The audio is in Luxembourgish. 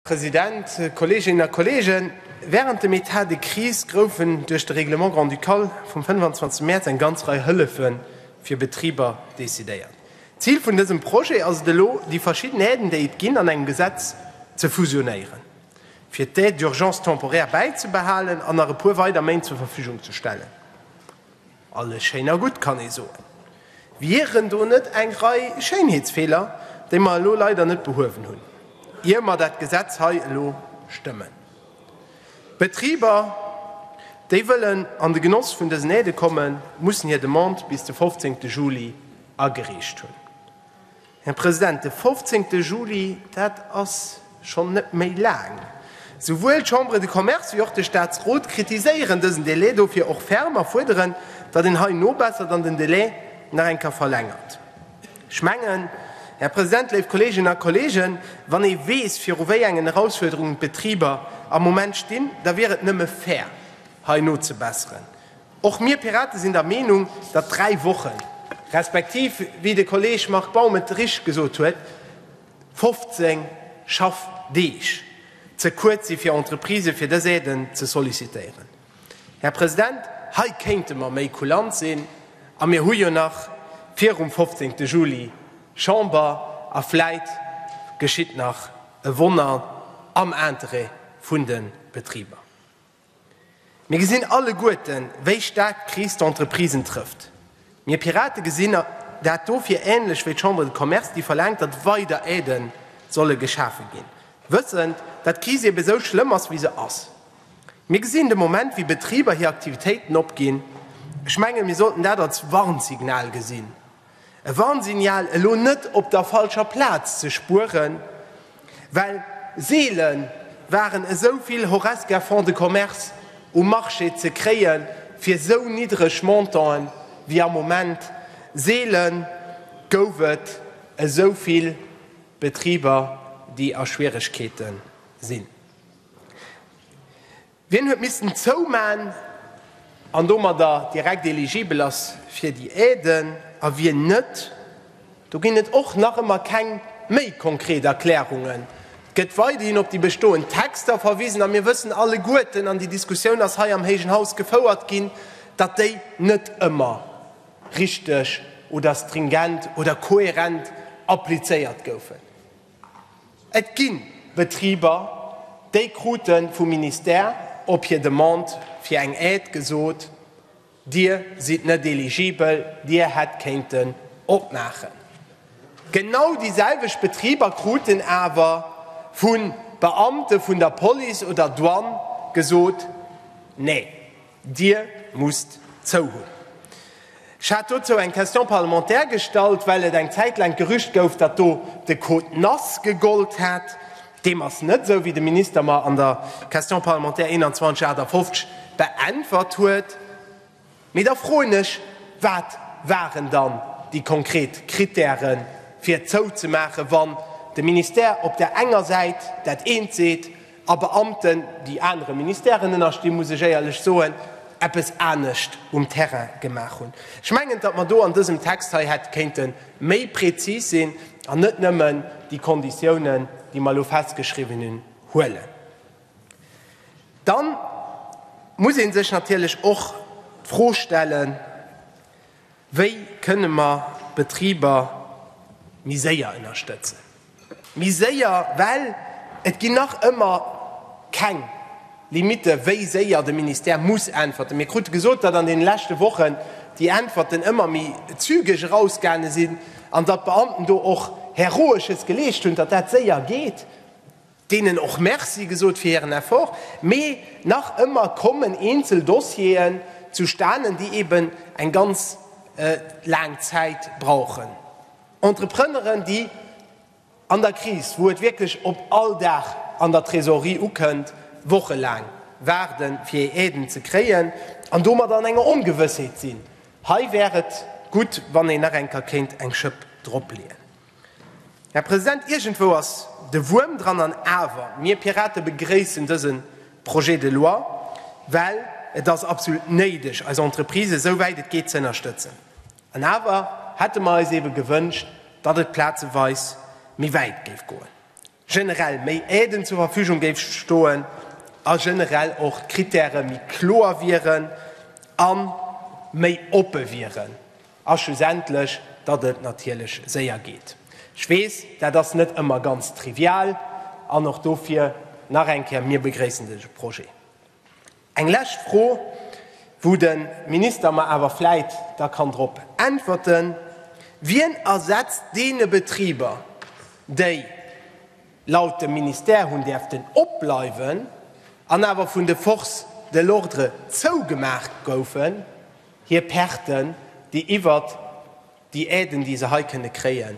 President, Kolleeginnen a Kolleegen, wärend dem Etat de crise groufen duerch de Règlement grand-ducal vum 25 Mäerz eng ganz Rei Hëllefe fir Betriber decidéiert. D'Zil vun dësem Projet ass et elo, déi verschidden Aiden, déi et ginn, an engem Gesetz ze fusionéieren, fir d'Aide d'urgence temporaire bäizebehalen an nach e puer weider Méint zur Verfügung ze stellen. Alles schéin a gutt, kann ee soen. Wieren do net eng Rei Schéinheetsfeeler, déi mer elo leider net behuewen hunn, ier mer dat Gesetz hei elo stëmmen? D'Betriber, déi wëllen an de Genoss vun dësen Aide kommen, mussen hir Demande bis de 15 Juli agereecht hunn. Här President, de fofzéngte Juli, dat ass schonn net méi laang. Souwuel d'Chambre de Commerce wéi och de Statsrot kritiséieren dësen Delai dofir och ferm a fuerderen, datt een hei nobessert an den Delai nach eng Kéier verlängert. Ech mengen, Här President, léif Kolleeginnen a Kolleegen, wann ee weess, viru wéi engen Erausfuerderungen d'Betriber am Moment stinn, da wier et nëmme fair, hei nozebesseren. Och mir Piraten sinn der Meenung, datt dräi Wochen, respektiv, wéi de Kolleeg Marc Baum et richtig gesot huet, 15 Schaffdeeg ze kuerz si fir Entreprisë fir dës Aiden ze sollicitéieren. Här President, hei kéinte mer méi kulant sinn a mir hu jo nach virum 15 Juli Chamber a vläit geschitt nach e Wonner am Interêt vun de Betriber. Mir gesinn alleguerten, wéi staark d'Kris d'Entreprisen trëfft. Mir Pirate gesinn dat dofir änlech wéi d'Chambre de Commerce, déi verlaangt, datt weider Aiden solle geschafe ginn, wëssend, datt d'Kris eben esou schlëmm ass, wéi se ass. Mir gesinn de Moment, wéi Betriber hir Aktivitéiten opginn. Ech menge, mir sollten dat als Warnsignal gesinn. E Warnsignal, elo net op der falscher Plaz ze spueren, well seele waren esou vill Horesca Fonds de Commerce um Marché ze kréie fir esou niddreg Montanten wéi am Moment. Seele gouf et esou vill Betriber, déi a Schwieregkeete sinn. Wien huet missten zouman an domadder direkt eligibel ass fir déi Aiden a wien net, do ginn et och nach ëmmer keng méi konkret Erklärungen. Et gëtt weiderhin op déi bestoend Texter verwisen a mir wëssen alleguerten, an déi Diskussioun ass hei am héijen Haus gefouert ginn, datt déi net ëmmer richteg oder stringent oder kohärent applizéiert goufen. Et gi Betriber, déi krute vum Ministère op hir Demande fir eng Aide gesot, Dir sidd net eligibel, Dir hätt kéinten opmaachen. Genau déi selwecht Betriber kruten awer vu Beamte vun der Police oder Douane gesot, Nee. Dir musst zou hunn, ech hat dozou eng Question parlementaire gestallt, well et eng Zäit laang d'Gerücht gouf, datt do de Code NACE gegollt hätt. Deem ass net esou, wéi de Minister mer an der Question parlementaire 2158 beäntwert huet. Mee da froen ech, Wat waren dann déi konkret Krittäre fir zouzemaachen, wann de Ministère op där enger Säit dat eent seet, A Beamten, déi anere Ministèren ënnerstinn, muss ech éierlech soen, eppes anescht um Terrain gemaach hunn. Ech mengen, datt mer do an dësem Text hei hätte kéinte méi prezis sinn an net nëmmen déi Konditiounen, déi mer elo festgeschriwwen hunn, huelen. Dann muss ee sech natierlech och d'Fro stellen, Wéi kënne mer d'Betriber méi séier ënnerstëtzen? Méi séier, well et ginn nach ëmmer keng Limitte wéi séier de Ministère muss äntwerten. Mir krute gesot, datt an deene leschte Wochen déi Äntwerten ëmmer méi zügeg erausgaange sinn an datt d'Beamten do och heroesches geleescht hunn, datt dat séier geet. Deenen och Merci gesot fir hiren Effort, mee nach ëmmer kommen eenzel Dossieren zustanen, déi eben eng ganz laang Zäit brauchen. Entrepreneuren, déi an der Kris, wou et wierklech op all Dag an der Trésorerie ukënnt, wochelaang waarde fir hir Aiden ze kréien an domat an enger Ongewëssheet sinn, hei wär et gutt, wann een nach eng Kéier kéint eng Schëpp dropleeën. Här President, iergendwou ass de Wuerm dran. An awer, mir Pirate begréissen dëse Projet de loi, well et ass absolut néideg, eis Entreprisë esou wäit et geet ze ënnerstëtzen. An awer hätte mer eis eebe gewënscht, datt et plazeweis méi wäit géif goen. generell méi Aiden zur Verfügung géif stoen a generell och d'Kritäre méi kloer wieren a méi oppe wieren a schlussendlech, datt et natierlech séier geet. Ech weess, dat ass net ëmmer ganz trivial an och dofir nach eng Kéier, Mir begréissen dëse Projet. Eng lescht Fro, wou de Minister mer awer vläit da kann drop äntwerten, Wien ersetzt deene Betriber, déi laut dem Ministère hunn däerften opbleiwen an awer vun de Forces de l'ordre zougemaach goufen, hir Perten, déi iwwert déi Aiden, déi se hei kënne kréien?